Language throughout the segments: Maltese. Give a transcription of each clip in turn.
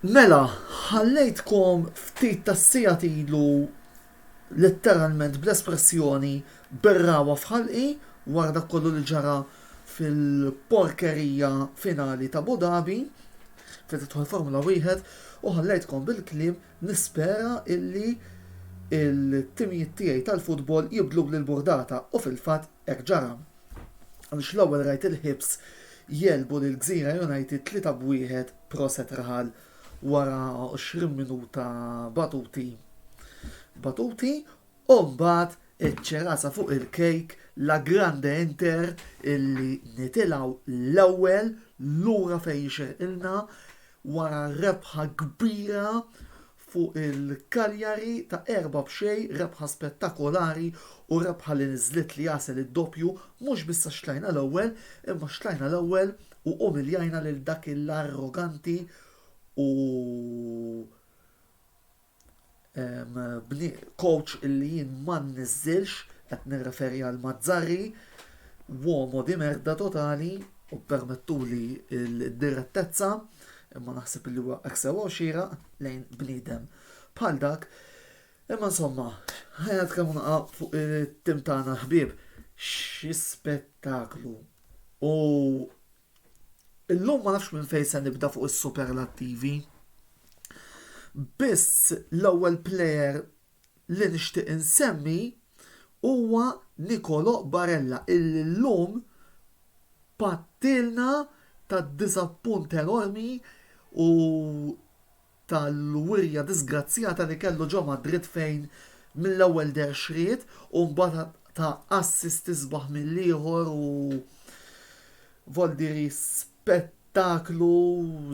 Mela, ħallejtkom ftit tas-sijat ilu letteralment bl-espressjoni berrawa f'ħalqi wara dak kollu li ġara fil-porkerija finali t'Abu Dhabi fejn tidħol Formula Wieħed u ħallejtkom bil-kliem nispera illi l-timijiet tiegħi tal-futbol jibdluli l-burdata u fil-fatt hekk ġara għaliex l-ewwel rajt il-Hibs jegħlbu lill-Gżira United tlieta b'wieħed proset Rahal. wara 20 minuta batuti batuti u mbagħad iċ-ċerasa fuq il-cake la grande inter illi nitilgħu l-ewwel lura fejn jixirqilna wara rebħa kbira fuq il-Cagliari ta' erba' b'xejn, rebħa spettakolari u rebħa li niżlitli għasel id-doppju mhux biss għax tlajna l-ewwel imma x'tlajna l-ewwel U umiljajna lil dak l-arroganti u coach illi jien ma nniżżilx, qed nirreferi għal Mazzarri, uomo di merda totali, u ppermettuli d-direttezza, imma naħseb li huwa hekk sewwa u xieraq lejn bniedem bħal dak. Imma insomma, ħa nitkellmu naqra fuq it-tim tagħna ħbieb. Xi spettaklu! U illum ma nafx minn fejn se nibda fuq is-superlattivi. Biss l-ewwel plejer li nixtieq insemmi huwa Nikolo Barella illi llum pattilna ta' diżappunt enormi u tal-wirja diżgrazzjata li kellu ġo Madrid fejn mill-ewwel deher xriet u mbagħad ta assist isbaħ mill-ieħor u voldiri spettaklu,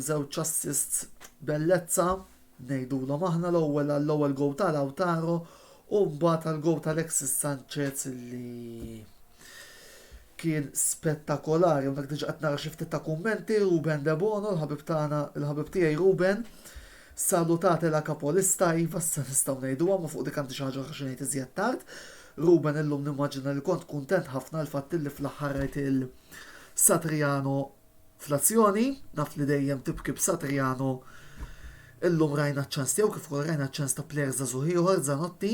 żewġ assists bellezza ngħidulhom aħna l-ewwel għall-ewwel gowl ta' Lautaro u mbagħad għall-gowl ta' Alexis Sanchez li Kien spettakolari, hawnhekk diġà qed nara xi ftit ta' kummenti, Ruben Debono, l-ħabib tagħna, il-ħabib tiegħi Ruben, Salutate la capolista, iva s'issa nistgħu ngħiduha, imma fuq dik għandi xi ħaġa oħra xi ngħid iżjed tard. Ruben illum nimmaġina li kont kuntent ħafna għall-fatt illi fl-aħħar rajt lil Satriano fl-azzjoni, naf li dejjem tibki b'Satriano, illum rajna ċ-ċans tiegħu kif ukoll rajna ċ-ċans ta' plejer żagħżugħ ieħor, Zanotti.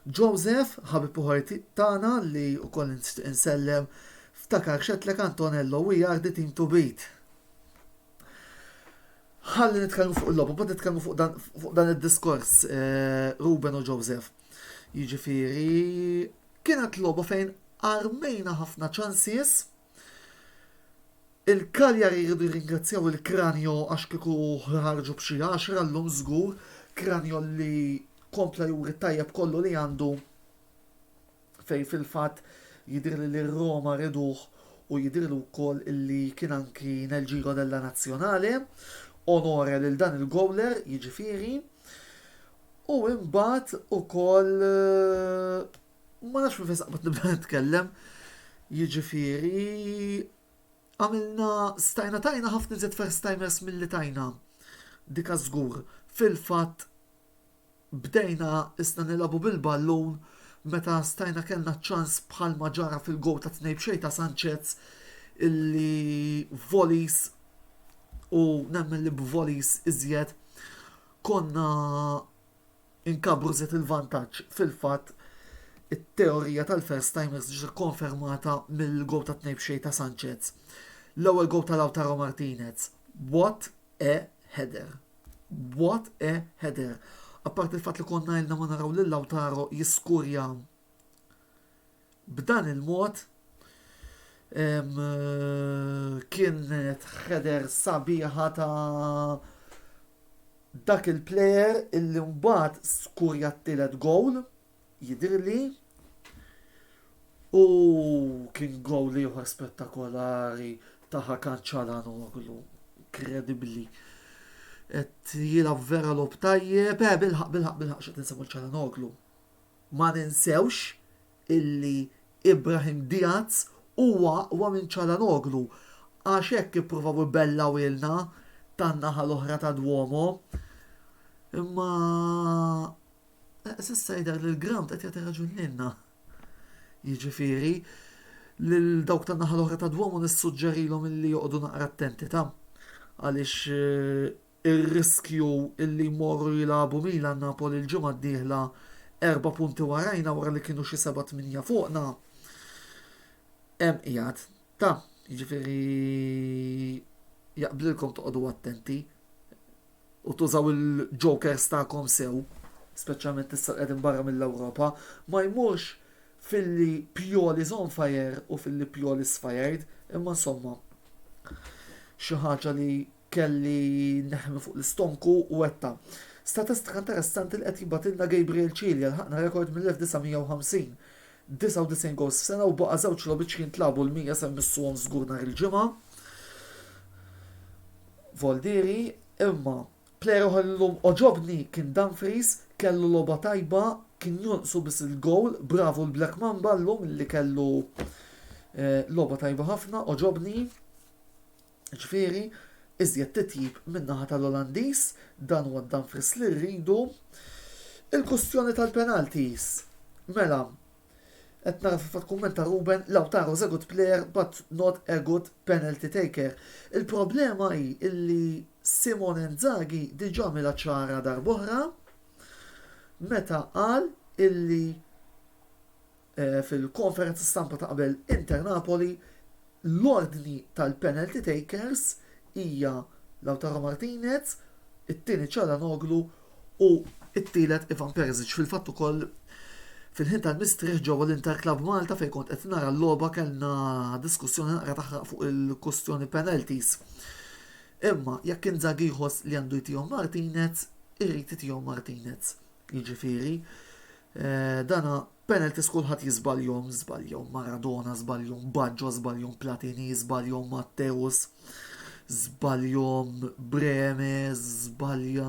Joseph, ħabib uħor tagħna li wkoll nixtieq insellem, ftakar x'għedtlek Antonello, we are the team to beat. Ħalli nitkellmu fuq il-logħba, bad nitkellmu fuq dan, fuq dan id-diskors eh, Ruben u Joseph. Jiġifieri kienet logħba fejn armejna ħafna ċansies Il-Cagliari jridu jirringrazzjaw il-Cranio għax kieku ħarġu b'xi għaxra llum żgur, Cranio li kompla juri t-tajjeb kollu li għandu fejn fil-fatt jidhirli li r-Roma riduh u jidhirli wkoll li kien anki nel Giro della Nazionale, onore lil dan il-gowler jiġifieri, u imbagħad ukoll ma nafx minn fejn saqbadni bda nitkellem, jiġifieri Għamilna stajna tajna ħafna iżjed first timers milli tajna. Dika żgur. Fil-fatt bdejna isna nilagħbu bil-ballun meta stajna kellna ċ-ċans bħalma ġara fil-gowl ta' tnejn b'xejn ta' Sanchez illi volleys u nemmen li b'volleys iżjed konna Inkabbru żied il-vantaġġ, fil-fatt it-teorija tal-first timers ġiet ikkonfermata mill-gowl tat-tnejn b'xejn ta' Sanchez. L-ewwel gowl ta' Lautaro Martinez. What a header! What a header! Apparti l-fatt li konna ilna ma naraw lil Lautaro jiskurja B'dan il-mod kienet header sabiħa ta' dak il-player illi mbagħad skurja t-tielet gowl jidhirli u kien gowl ieħor spettakolari ta' Hakan Calhanoglu inkredibbli qed jilgħab vera logħob tajjeb, bilħaqq bilħaqq bilħaqq xtaqt insemmi Calhanoglu. Ma ninsewx illi Ibrahim Diaz huwa aqwa minn Calhanoglu għax hekk ippruvaw ibellgħuhielna tan-naħa l-oħra tad-Duomo. Imma s'issa jidher li l-grawnd qed jagħti raġun lilna. Jiġifieri, lil dawk tan-naħa l-oħra tad-Duomo nissuġġerilhom illi joqogħdu naqra attenti ta' għaliex ir-riskju li jmorru jilagħbu Milan, Napoli l-ġimgħa d-dieħla erba' punti warajna wara li kienu xi seba' tmienja fuqna hemm qiegħed. Ta, jiġifieri jaqblilkom toqogħdu attenti u tużaw il-jokers tagħkom sew, speċjalment issa qegħdin barra mill-Ewropa, ma jmurx filli Pioli's on fire u filli Pioli's fired, imma insomma xi ħaġa li Kelli neħmi fuq l-istonku u għedtha. Statistika interessanti li qed jibgħatilna Gabriel Cilia, lħaqna rekord mill-1950. 99 gowls f'sena u baqa' żewġ logħbiċ jintlagħbu l-100 se jmissuhom żgur nhar il-Ġimgħa. Voldieri, imma plejer oħra li llum għoġobni kien Dumfries, kellu logħba tajba, kien jonqsu biss il-gowl, bravu l-Black Mamba llum li kellu eh, logħba tajba ħafna, għoġobni. Jiġifieri, iżjed titjib min-naħa tal-Olandiż, dan huwa d-Dumfries li rridu. Il-kustjoni tal-penalties, mela, qed nara fil-fatt kumment ta' Ruben, Lautaro is a good player but not a good penalty taker. Il-problema hi li Simone Inzaghi diġà għamilha ċara darb'oħra meta qal illi Fil-konferenza stampa ta' qabel Inter Napoli, l-ordni tal-penalty takers hija Lautaro Martinez, it-tieni Calhanoglu u t-tielet Ivan Perisic. Fil-fatt ukoll fil-ħin tal-mistrieħ ġewwa l-Inter Club Malta fejn kont qed nara l-logħba kellna diskussjoni naqra taħraq fuq il-kwistjoni penalties. Imma jekk Inzaghi jħoss li għandu jtihom Martinez, irid itihom Martinez. Jiġifieri, Dan hu penalties kulħadd jiżbaljhom, żbaljhom Maradona, żbaljhom Baggio, żbaljhom Platini, żbaljhom Matteus, żbaljhom Breme, żbalja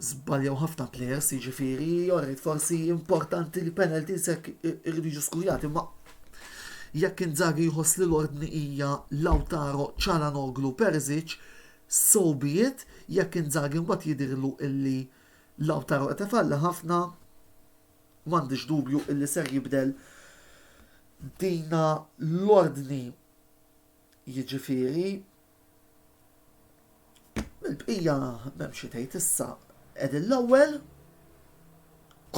żbaljaw ħafna players, jiġifieri, orrit forsi importanti li penalties hekk irridu jiġu skurjati, ma jekk Inzaghi jħoss li l-ordni hija Lautaro Cialanoglu Perzic, so be it, jekk Inzaghi mbagħad jidhirlu illi Lautaro qed ifalli ħafna u m'għandix dubju illi ser jibdel dina l-ordni jiġifieri mill-bqija m'hemm xi tgħid issa qegħdin l-ewwel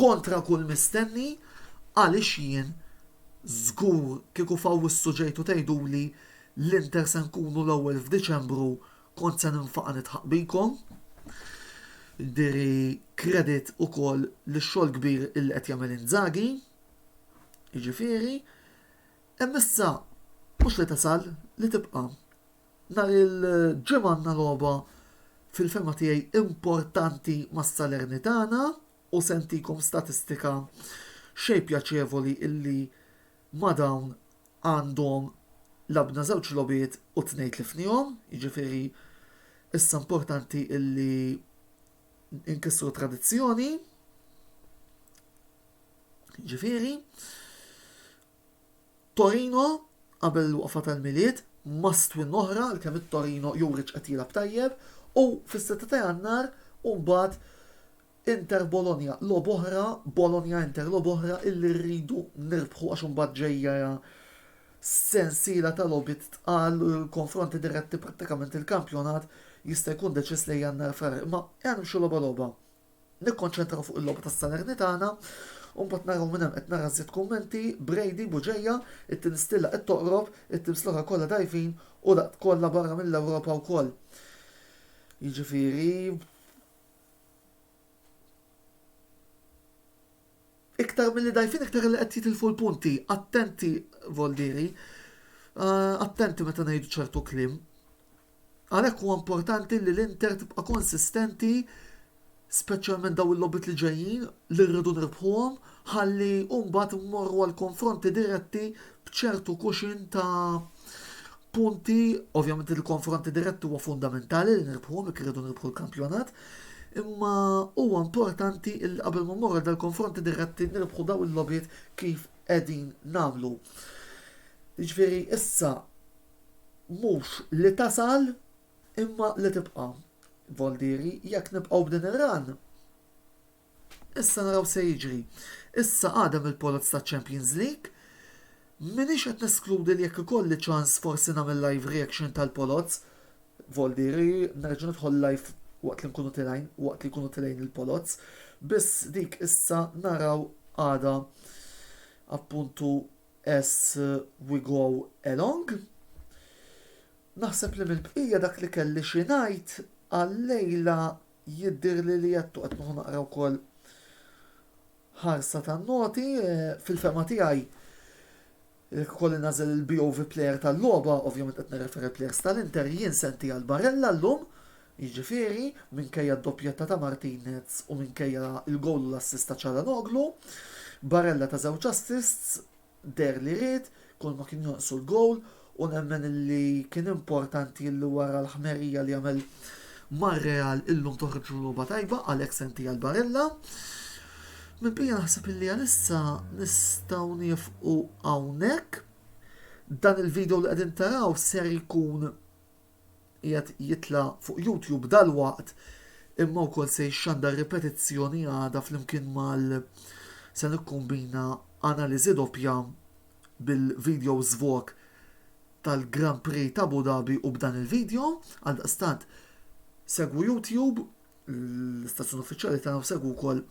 kontra kull mistenni għaliex jien żgur kieku f'Awwissu ġejtu tgħiduli l-Inter se nkunu l-ewwel f'Diċembru Kont se ninfaqa' nidħaq bikom. Ndiri kredit ukoll lix-xogħol kbir illi qed jagħmel Inzaghi. Jiġifieri, hemm issa mhux li tasal, li tibqa'. Nhar il-Ġimgħa għandna logħba fil-fehma tiegħi importanti ma' Salernitana u se ntikom statistika xejn pjaċevoli illi ma' dawn għandhom labna żewġ logħbiet u tnejn tlifnihom, jiġifieri issa importanti illi inkissru tradizzjoni. Jiġifieri Torino qabel il-waqfa tal-Milied must win oħra kemm it-Torino juri qed jilgħab tajjeb u fis-sitta ta' Jannar u mbagħad Inter Bologna logħba oħra, Bologna Inter logħba oħra illi rridu nirbħu għax imbagħad ġejja sensiela ta' logħbiet tqal, konfronti diretti prattikament il-kampjonat jista' jkun deċiż lejn Jannar Frar. Imma ejja nimxu logħba logħba. Nikkonċentraw fuq il-logħba tas-Salernitana u mbagħad naraw minn hemm qed nara żjed kummenti, Brady, Buġeja, it-tieni stilla qed toqrob, it-teams l-oħra kollha dgħajfin u daqt kollha barra mill-Ewropa wkoll. Jiġifieri, Iktar milli dajfin iktar li qed jitilfu l-punti. Attenti Voldieri, eh, attenti meta ngħidu ċertu klim. Għalhekk huwa importanti li l-Inter tibqa' konsistenti speċjalment daw il-lobit li ġejjin li rridu nirbħuhom ħalli mbagħad mmorru għal konfronti diretti b'ċertu kuxin ta' punti, ovvjament il-konfronti dirett huwa fundamentali li nirbħu jekk irridu nirbħu l-kampjonat, imma huwa importanti il qabel ma mmorru dal-konfronti diretti nirbħu daw il-lobiet kif qegħdin nagħmlu. Ġifieri issa mhux li tasal imma li tibqa' Voldieri jekk nibqgħu b'din ir-ran Issa naraw se jiġri. Issa għadem il-poloz taċ-Champions League. M'iniex qed neskludi li jekk ikolli ċans forsi nagħmel live reaction tal-poloz. Voldieri, nerġa' nidħol live waqt li nkunu tilgħin, waqt li jkunu tilgħin il-poloz. Biss dik issa naraw għada appuntu as we go along. Naħseb li mill-bqija dak li kelli xi ngħid għal-lejla Jidhirli li għedtu qed noħu naqra wkoll ħarsa tan-noti. Fil-fehma tiegħi jekk ukoll innażel il-BOV player tal-logħba, ovvjament qed nirreferi għall-players tal-Inter, jien se nti għal Barella llum, jiġifieri, minkejja d-doppjetta ta' Martinez u minkejja l-gowl u l-assist ta' Calhanoglu. Barella ta' żewġ assists. deher li ried, kulma kien jonqsu l-gowl u nemmen li kien importanti li wara l-ħmerija li għamel mar-Real illum toħroġ b'logħba tajba qal ex-MP għal Barella. Mill-bqija naħseb li għalissa nistgħu nieqfu hawnhekk. Dan il-video li qegħdin taraw ser jkun qiegħed jitla' fuq YouTube dalwaqt imma wkoll se jixxandar ripetizzjoni għada flimkien mal se nikkombina analiżi doppja bil-videos vlog tal-Grand Prix t'Abu Dhabi u b'dan il-video, għaldaqstant segwu YouTube. l-istazzjon uffiċjali tagħna u segwu wkoll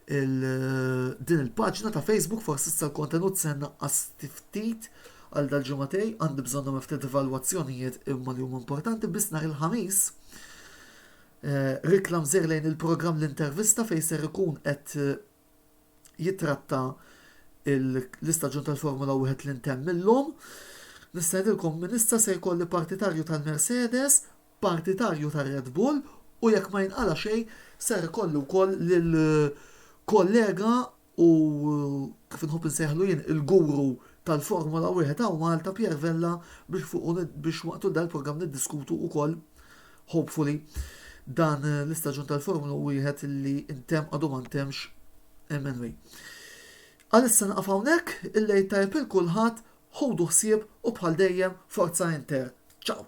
din il-paġna ta' Facebook forsi issa l-kontenut se naqqas ftit għal dal-ġimgħatej għandi bżonnhom ftit evalwazzjonijiet imma li huma importanti biss nhar il-ħamis. Eh, Riklam żer lejn il-programm l-intervista fejn ser ikun qed eh, jitratta l-istaġun tal-Formula 1 li ntemm illum. Nistedilkom minn issa se jkolli partitarju tal-Mercedes partitarju ta' Red Bull u jekk ma jinqala' xejn ser ikollu wkoll lil kollega u kif inħobb insejħlu jien il-guru tal-Formula Wieħed hawn Malta Pierre Vella biex fuqu biex matul dan il-programm niddiskutu wkoll hopefully dan l-istaġun tal-Formula Wieħed li intemm għadu ma ntemmx MNWA. Għalissa naqaf hawnhekk, il-lejl tajjeb il kulħadd, ħudu ħsieb u bħal dejjem forza Inter. Ciao!